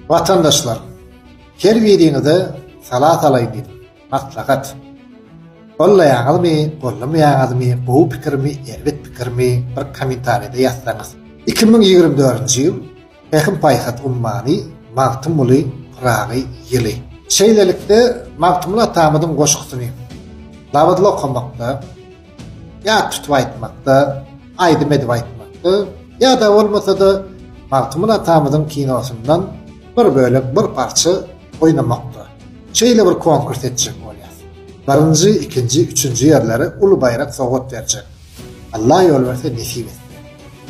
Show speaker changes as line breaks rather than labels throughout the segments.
Watandaşlar, her biriňize sala salaýyn diýdim, maslahat. Gollaýaňyzmy, gollamaýaňyzmy, gowy pikirmi, erbet pikirmi, bir kommentariýada ýazsaňyz. Iki müň ýigrimi dördünji ýyl Pähim-paýhas ummany Magtymguly Pyragy ýyly. Şeýlelikde, Magtymguly atamyzyň goşgusyny labyzly okamakda, ýa tutup aýtmakda, aýdym edip aýtmakda, ýa-da bolmasa-da Magtymguly atamyzyň kinosyndan bir bölek, bir parça oýnamakda. Şeýle bir konkurs etjek bolýas. Birinji, ikinji, üçünji ýerlere uly baýrak sowgat berjek. Alla ýol berse nesip etsin.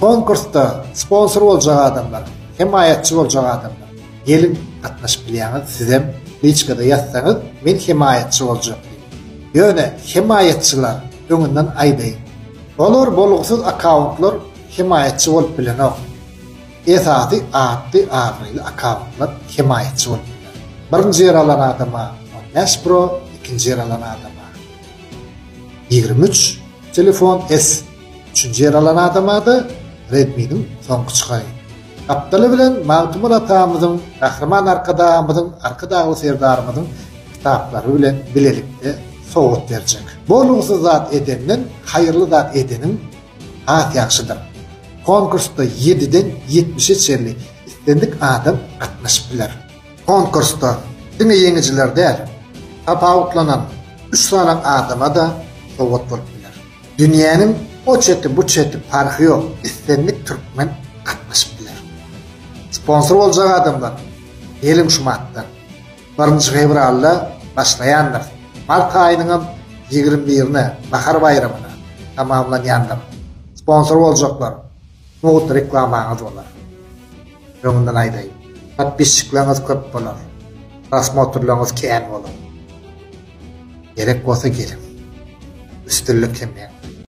Konkursda sponsor boljak adamlar, hemaýatçy boljak adamlar geliň gatnaşyp bilýäňiz, sizem liçkada ýazsaňyz men hemaýatçy boljak diýip. Ýöne hemaýatçylar öňünden aýdaýyn. Olar bolgusyz akkauntlar hemaýatçy bolup bilenok. Esasy atly abraýly akkauntlar hemaýatçy bolup biler. Birinji ýer alan adama on bäş pro, ikinji ýer alan adama ýigrimi üç telefon S. Üçünji ýer alan adama-da Redmi-niň soňky çygaý. Gapdaly bilen Magtymguly atamyzyň, Gahryman Arkadagymyzyň, Arkadagly Serdarymyzyň kitaplary bilen bilelikde sowgat berjek. Bolgusyz zat edenden haýyrly zat edeniň has ýagşydyr. Konkursda ýediden ýetmişe çenli islendik adam gatnaşyp biler. Konkursda diňe ýeňijiler däl, tapawutlanan üç sany adama-da sowgat bolup biler. Dünýäniň o çeti bu çeti parhy ýok islendik türkmen gatnaşyp biler. Sponsor boljak adamlar geliň şu martdan. Birinji fewralda başlaýandyr. Mart aýynyňam ýigrimi birine bahar baýramyna tamamlanýandyr. Sponsor boljaklar. Nohut reklamaňyz bolar. Öňünden aýdaýyn. Podpisçikleriňiz köp bolar. Prosmotrlaryňyz kän bolar. Gerek bolsa geliň. Üstünlik hemmäňize.